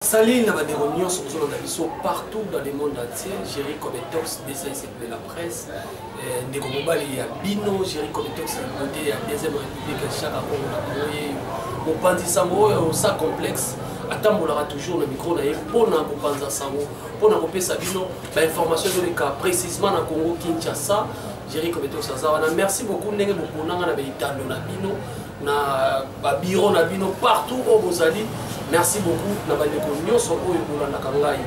Salut na bandeko nyonso bozolanda biso partout dans le monde entier Jerry Cometox DCS de la presse eh, ndeko mobali ya bino Jerry Cometox ya côté ya deuxième république chaka kongo na boye mopanzi sango oyo sa complexe atambolaka toujours na micro na ye mpo na kopanza sango mpo na kopesa bino bainformation ezoleka précisement na congo kinshasa jerry kobetos aza wana merci beaucoup ndenge bokonanga na baitando na bino na ba bureau na bino partout oyo bozali merci beaucoup na bandeko nyonso oyo bolandaka ngai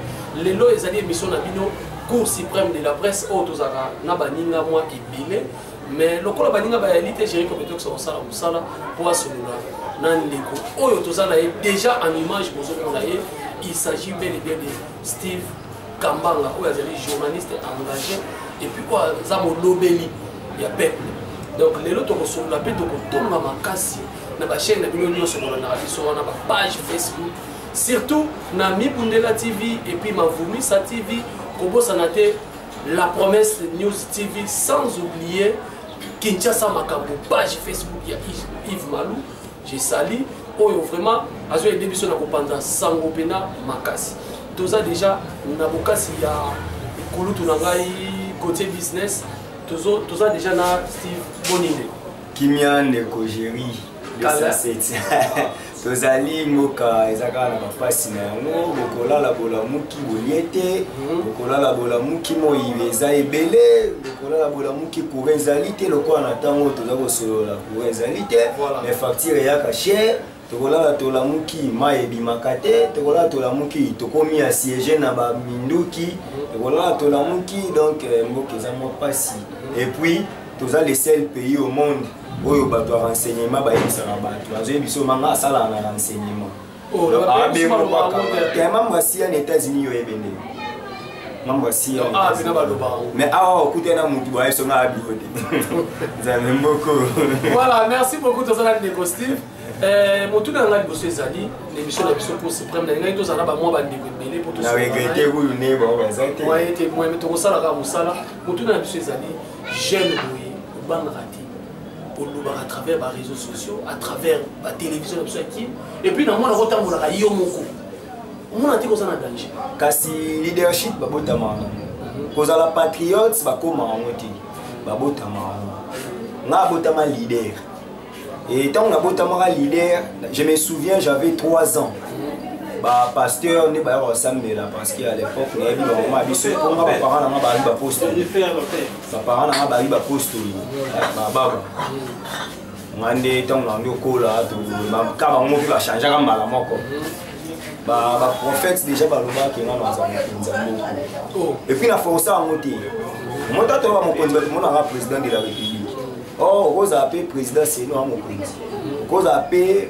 lelo ezali émission na bino cour suprême de la presse oyo tozalaka na baninga mwa ebele mais lokola baninga bayali te géri competence kosala mosala mpo asolola na ndeko oyo toza na ye déjà en image bozomona ye il s'agit bel et bien de Steve Kambanga oyo azali journaliste engagé et puis oyo aza molobeli ya peuple donc lelo tokosolola mpe tokotonga makasi na bachaine na bino nyonso bolandaka biso wana bapage facebook surtout na mibundela tv et puis mavumisa tv kobosana te la promesse news tv sans oublier kinshasa makambo page facebook ya yves malou Je sali oyo vraiment azo aider biso na kopanza sango pena makasi. Toza déjà na bokasi ya kulutu na ngai côté business. Tozo toza déjà na Steve Boninde. Kimia ndeko Jerry. Kala. tozali mboka eza kaka na bapasi na yango bokolala bolamuki bolie te mhm. bokolala bolamuki moi eza ebele bokolala bolamuki kura ezali te lokola na ntango toza kosolola courant ezali te mais facture eyaka cher tokolala tolamuki mai ebimaka te tokolala tolamuki tokomi ya siege na baminduki tokolala tolamuki donc euh, mboka eza mwa mpasi epuis toza le seul pays au monde oyo bato ya renseignement bayebisaka bato azoyebi biso manga asalaka na renseignement Oh, ya mambo asiya na états-unis yo oyebe nde mambo asiya ah, mais awa okutani na motu boye songa ya biro te nzambe mboko voilà merci beaucoup toza na ndeko steve eh, motuna na ngai liboso ezali na émission na biso cour supreme nalingaki tozala na bamwa bandeko ebele mpo tosaete moyeme tokosalaka mosala motuna na biso ezali jeune boye obangaka te kolobaka à travers ba réseaux sociaux à travers ba télévision na biso ya kin et puis namona kotambolaka yo moko omona te koza na danger kasi leadership babotama yango mhm. kozala patriote bakoma yango te babotama yango nga abotama leader et ntango nabotamaka leader je me souviens j'avais 3 ans bapasteur nde bayaka kosambela parce que à l'époque nayebi bamama biso mpo nga baparent na nga baali baposte baparent na nga bayi bapostoli bababa nga nde ntango na nde okola ka bango mpe bachangeaka mbala moko baprophète déjà balobaki nga naza mokonzi ya moko epuis na force yango te mota toyeba mokonzi bato monaka président de la république or okozala mpe président seno ya mokonzi okozala mpe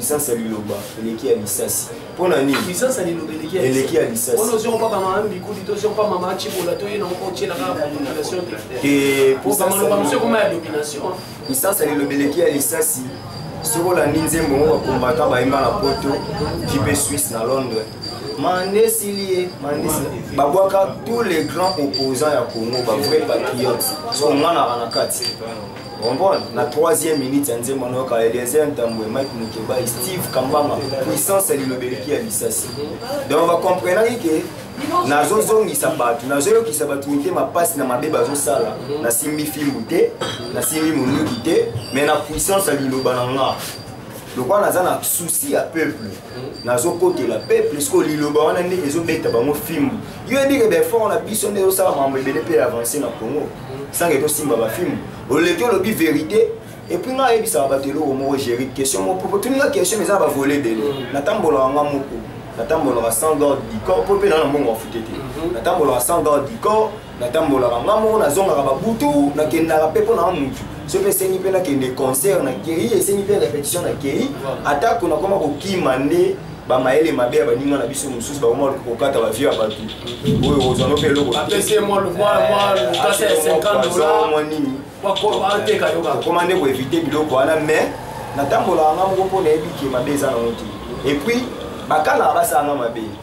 Puissance ya liloba eleki ya lisasi. Mpo na nini? Puissance ya liloba eleki ya lisasi. Eleki ya lisasi. Wana ozo papa mama mbikudi to ozo papa mama chibola to yena ko chela ka population te. Te pour ça maloba monsieur koma ya domination. Puissance ya liloba eleki ya lisasi. Soki olandi nzembo ngo bakombata bayemba na poto jipe suisse na londres mandesili babwaka tous les grands opposants ya congo bavrai patriote so onganaka na kati comprendre na troisième minute ya nzembo nayoka eliezer ntambwe mike mukebai steve kambama puissance ya lilobeleki ya lisasi donc bacomprenaki ke nazozongisa bato nazoyokisa bato mitema mpasi na mabe bazosala nasimbi fimbu te nasimbi monduki te mai na puissance ya liloba na nga lokola naza na souci ya peuple nazokotela peuple sikoyo liloba wana nde ezobeta bango fimbu yo yebike baeffort na biso nde ezosala mambo ebele mpe avance na congo sange tosimba bafimbu oleki olobi verité epuis ngai ayebisaka bato eloko moko géri question moko po toninga question eza bavole ebele mm. natambolaka nga moko natambolaka sans garde du corps mpo mpe naa na mbongo afute te mhm. natambolaka sans garde du corps natambolaka nga moko nazongaka babutu nakendaka mpe mpo na mutu so mpe esengi mpe nakende concert na kei esengi mpe repetition na kei atako nakoma kokima nde bamayele mabe ya baninga na biso mosusu bakoma kokata bavie ya bato oyo kozwano mpe eloko nini okoma nde koevite biloko wana mais natambolaka nga moko mpo nayebi ke mabe eza nango te epuis bakanaka basalanga mabe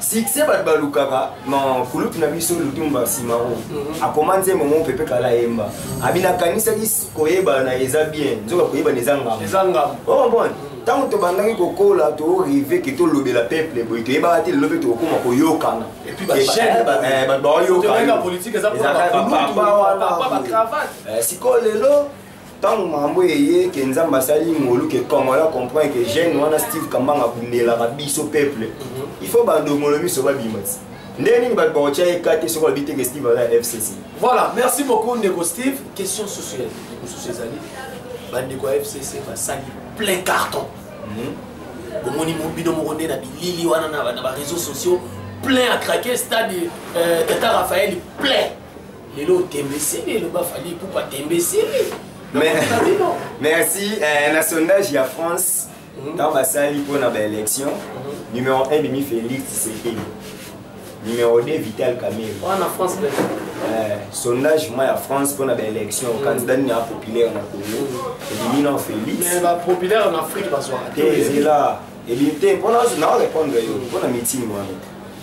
succès bato balukaka na kulutu na biso lutumba simaro mhm. akoma nzembo mo pepe kala ayemba abi nakanisaki koyebana eza bien nzoka koyebana eza ngamba omobone oh, ntango tobandaki kokola torive ke tolobela peuple boye toyebaka te lelo mpe tokokoma koyokana baoyokaapapa wana sikoyo lelo ntango makambo eye ke nzambe asali ngolu ke congolais acomprendre ke jeune wana steve kambanga abundelaka biso peuple mhm. il faut bandongolo miso babima ti ndenge nini bato bakotya ye kate soki alobi te ke steve aza ya fcc voilà merci beaucoup ndeko steve question susu ya mosusu ezali bandeko ya fcc basali plein carton mhm. bomoni bino moko nde na bilili wana na bareseau sociaux plein à craquer stade euh, tata raphaël plein lelo otembeseli eloba fali pupa tembeseli merci eh, na sondage ya france mhm. ntango basali mpo na baélection mhm. numéro 1 demi félix tshisekedi numéro 2 vital camille wana france eh, sondage moi ya france mpo na baélection mhm. candidat nini ya populaire na congo ebimi na félix te ezela ebimi te mpona nao répondre yo mpo na meeting wana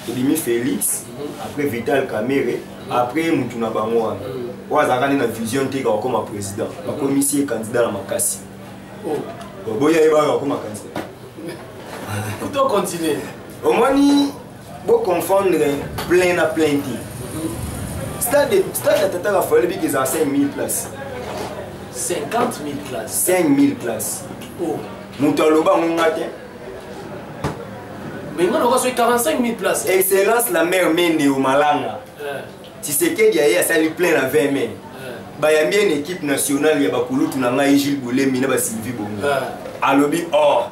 ebimi félix après vital camere après motu na bango wana oyo azalaka nde na vision te kakokoma président bakomisi ye candidat na makasi oh. boya ye baka bakoma candidat omoni Bo confondre plein na plein te. Stade stade ya Tata Raphaël Biki eza 5000 places. 50 000 places. 5000 places. Oh. Moto aloba ngo nga te. Mais nga lokola soki 45 000 places. Excellence la mère Mende au Malanga. Eh. Tshisekedi aye asali plein na 20 mai. Eh. Bayambi une équipe nationale ya bakulutu na ngai Gilles Bolemi na ba Sylvie Bongo. Eh. Alobi or oh.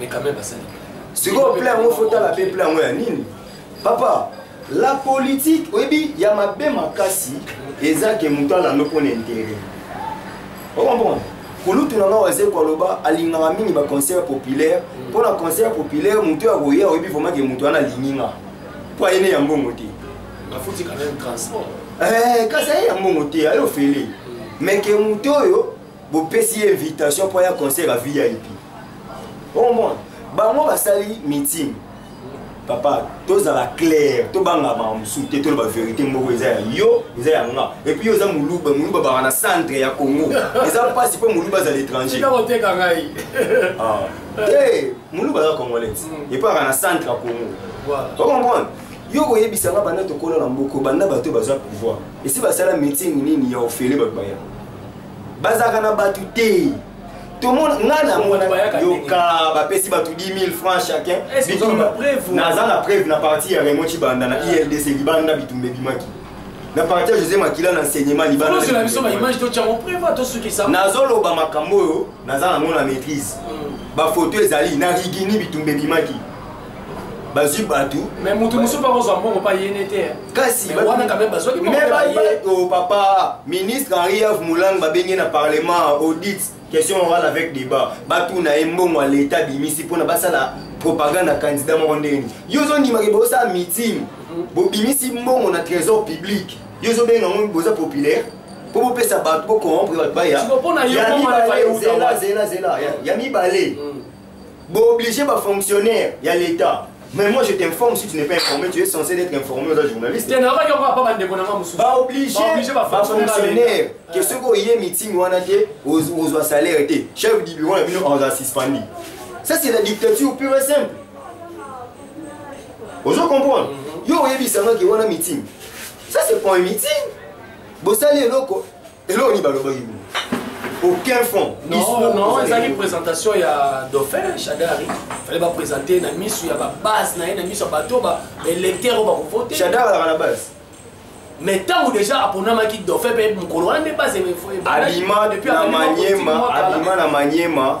mais quand même basali sikoyo plan yango fotala mpe plan yango ya nini papa la politique oyebi ya mabe makasi eza ke moto alando mpo na intere okomprendre kulutu na ngai wazeko aloba alingaka mingi baconcert populaire mpo na concert populaire moto ya koya oyebi vraimen ke moto wana alingi nga mpo ayene ya mbongo te eh, kasi aye ya mbongo te aye ofele mm. mais ke moto oyo bopesi ye invitation mpo aya concert ya vip omona bango basali meeting papa tozala claire tobanga bango mosusu te toloba verité moko eza ya yo eza ya nga epuis yo eza moluba moluba baka na centre ya congo eza mpasi mpo moluba azala étranger ah. te moluba aza congolaise mm. epuis aka na centre ya congo okomprendre yo koyebisa nga banda tokola na mboko banda bato bazwa pouvoir esi basala meeting nini ya ofele bato baya bazalaka na bato te tomona ngai namona yoka bapesi bato 10 000 francs chacun naza na preuve na parti ya remo cibanda na ildc libanda bitumba ebimaki na parti ya josé makila na enseignement libananazoloba makambo oyo naza nango na maîtrise hmm. bafoto ezali na rigini bitumba ebimaki bazwi bato mais moto mosusu mpe akozwa mbongo mpa yene te kasi wana kame bazwaki oh, papa ministre henri av molang babenge na parlement audit question orale avec débat batuna ye mbongo ya leta abimisi mpona basala propagande ya candidat moko ndenge nini yo ozondimaki bosala meeting mhm. bobimisi mbongo na trésor public yo ozobenga yango boza populaire mpo bopesa bato bocorrompre bato baya ya mibale zela zela zela ya mibale mm. Bo obligé ba fonctionnaire ya l'État. Mais moi je t'informe si tu n'es pas informé, tu es censé d'être informé aux journalistes. Tiens, nabaki encore pas bande kona mamusu. Ba obligé ba fonctionnaire. Que ce ko yé meeting wana te ozwa salaire te. Chef du bureau na bino on a suspendu. Ça c'est la dictature pure et simple. Ozo comprendre? Mhm. Yo oyebisa nga ki wana meeting. Ça c'est pas un meeting. Bosali eloko eloko nini balobaki boye aucun fond non non ezalaki présentation ya dauphin chadari fallait baprésente na miso ya babase na ye na miso ya bato oyo baélecteur oyo bakovote chadari azalaka na base mais ntango déjà aponamaki dauphin mpe mokolo wana nde base alima na maniema alima na maniema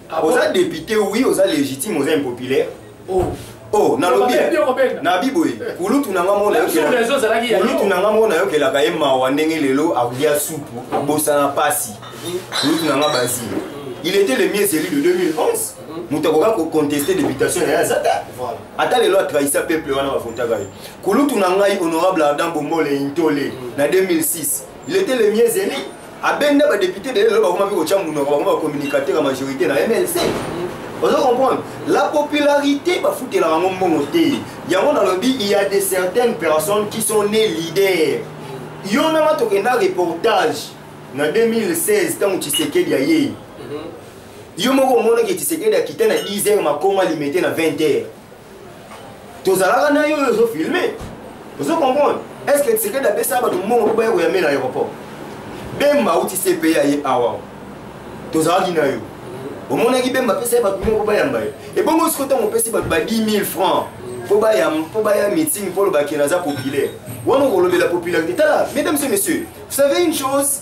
Ah oza député oui oza légitime oza impopulaire oh. oh nalobi nabi boye eh. kulutu na nga moko nayokelaakulutu na nga moko nayokelaka ye mawa ndenge lelo akolia supu abosana mpasi kulutu na nga bazi il était le mieux élu de 2011 moto akoka koconteste députation na ye aza ta ata lelo atrahisa peuple wana bavotaka ye kulutu na ngai honorable ardan bomole intole na 2006 il était le mieux élu abenda ba député de lelo bakoma pe kotia munoko bakoma ba communicateur ya majorité na mlc ozo comprendre la popularité bafutelaka yango mbongo te yango nalobi il y a de certaines personnes qui sont né leader yo na nga tokenda reportage na 2016 ntango tshisekedi ayei mhm. yo moko omonaki tshisekedi akita na 10 heures makoma limete na 20 heures tozalaka na yo oyo ozo filme ozo comprendre est ce que tshisekedi apesa bato mbongo mpo baya koyame na aéroport bemba auti cpa ye awa tozalaki na yo omonaki bemba apesa ye bato mbongo mpo bayamba ye ebongo siko ntango opesi bato ba 10 000 francs mpo baya meeting mpo olobaki naza populaire wana okolobela popularité tala mesdames et messieurs vous savez une chose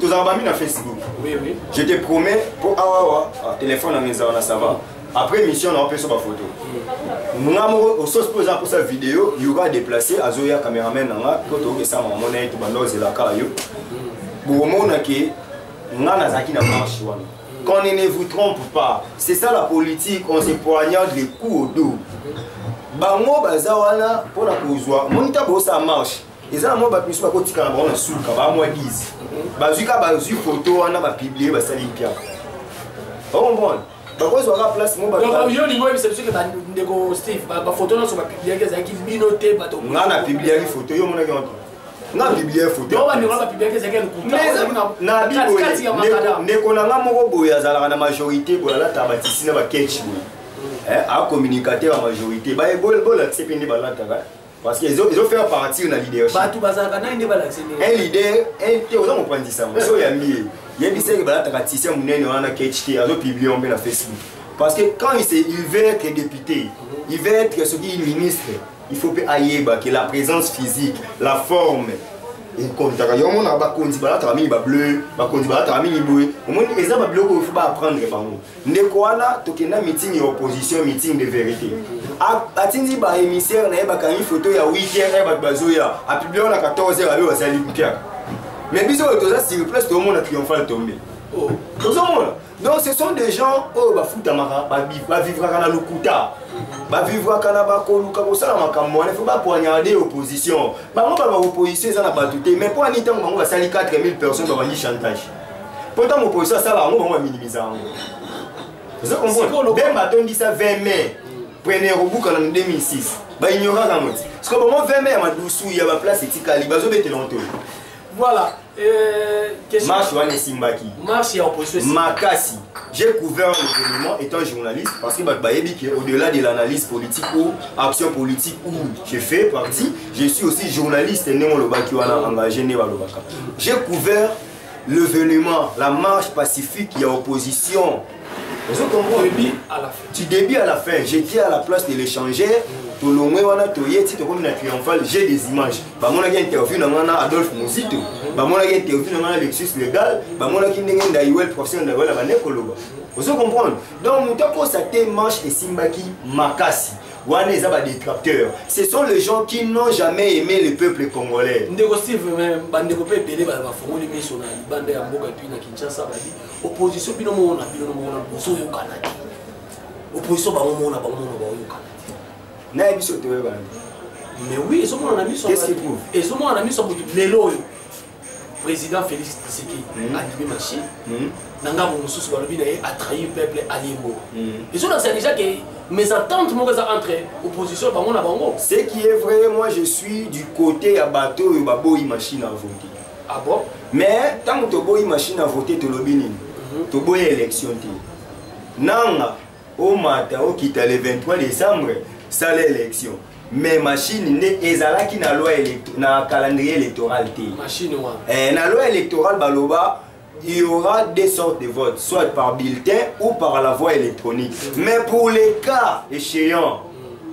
tozalaka bami na facebook je te promets mpo awawa ah, telefone yango ezala na sava après émission na opesa bafoto nga moko ososi mpo eza mposa video yoka déplace azoya cameraman na nga mpo tookesama yango na ye tobanda ozelaka yo bokomona ke nga nazalaki na marche wana qu'on ne vous trompe pas c'est ça la politique on se poignarde les coups au dos bango baza wana mpo na kozwa moni ntango bosala marche eza na mwa bato misusu bakotikala bango na suka bamwa bizi bazwi kaka bazwi foto wana bapiblie basali mpiaka okomprendre bakozwa kaka place moyo lingo oyebisa biso ke bandeko steve bafoto nyonso bapibliaki ezalaki bino te bato nga na pibliaki foto yo omonaki yango nga biblia fotoneko na nga moko boye azalaka na majorité boye alataka batisi na baketch boye eh, akomunicate ya majorité bolatise mpe nde balataka parce que ezo ezo faire partir na leadership batu bazalaka nani nde balakisi ndenge un leader un te oza mopanzisa yango so oyambi ye yebisa ye balataka tisia monene wana kt azo publie yango mpe na facebook parce que quand il, se, il veut être député il veut être soki ministre il faut mpe ayeba que la présence physique la forme ekontaka yo omona bakonzi balataka mingi bableu bakonzi balataka mingi boye omoni eza babiloko oyo fo baapprendre bango ndeko wana tokenda meeting ya opposition meeting de vérité atindi ba émissaire na ye bakangi foto ya weekend ya bato bazoya apiblia wana 14 heure abe bazali mpiaka mais biso oyo toza sur place tomona triomphal tombe oh. tozomona donc ce sont des gens oyo bafutamaka bavivraka na lokuta bavivraka na bakoluka kosala makambo wana fo bapoignaka de opposition bango baloba opposition eza na bato te mais mpo ani ntango bango basali 4000 personnes babandi chantage mpo ntango opposition asala yango bango baminimiza yango ozo comprendre bemba atondisa 20 mai premier kobukana na 2006 baignoraka yango ti siko bango 20 mai ya madusu ya baplace etikali bazobetela yango te voilà euh, marche wana esimbaki marche ya opposition makasi j'ai couvert l'événement étant journaliste parce que bato bayebi ke au-delà de l'analyse politique ou action politique où je fais partie je suis aussi journaliste ndenge olobaki wana engagé nde balobaka j'ai couvert l'événement la marche pacifique ya opposition ozo comprendre début à la fin tu début à la fin j'étais à la place de l'échanger tolongwe wana toye ti tokomi na triomphal j'ai des images bamonaki interview na ngai na adolphe mozito bamonaki interview na ngai na lexus legal bamonaki ndenge ndaiwel professeur ndaiwel abande koloba ozo comprendre donc moto akosa te manche esimbaki makasi wana eza ba détracteurs ce sont les gens qui n'ont jamais aimé le peuple congolais ndeko steve bandeko mpe ebele bafongoli miso na libanda ya mboka epuis na kinshasa babi opposition bino moko na bino moko na bozoyokana te opposition bango moko na bango moko baoyokana te naye biso toyokana mais oui ezomonana miso ezomonana miso motu lelo oyo président félix tshisekedi mm. andimi machine mm. na ngambo mosusu balobi na ye atrahir peuple aliembo mm. ezo na déjà ke mes attentes moko eza entre opposition bango na bango ce qui est vrai moi je suis du côté ya bato oyo baboyi machine à voter ah bon mais ntango toboyi machine à voter tolobi nini mhm. toboyi élection te nanga omata okita le 23 décembre sala élection mais machine nde ezalaki na loi na calendrier électoral te machine wana eh, na loi électorale baloba il y aura deux sortes de votes soit par bulletin ou par la voie électronique mm. mais pour les cas échéants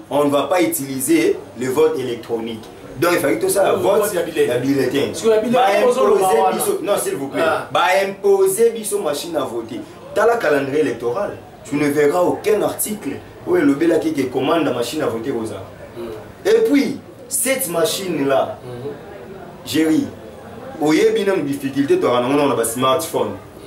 on ne va pas utiliser le vote électronique donc il fallait tout ça la vote ya bulletin baimposer biso non s'il vous plaît baimposer biso machine à voter tala calendrier électoral tu ne verras aucun article oyo elobelaki ke commande machine à voter kozala mm. et puis cette machine là mm-hmm. jerry oyebi nanu difficulté toyaka nango nango na basmartphone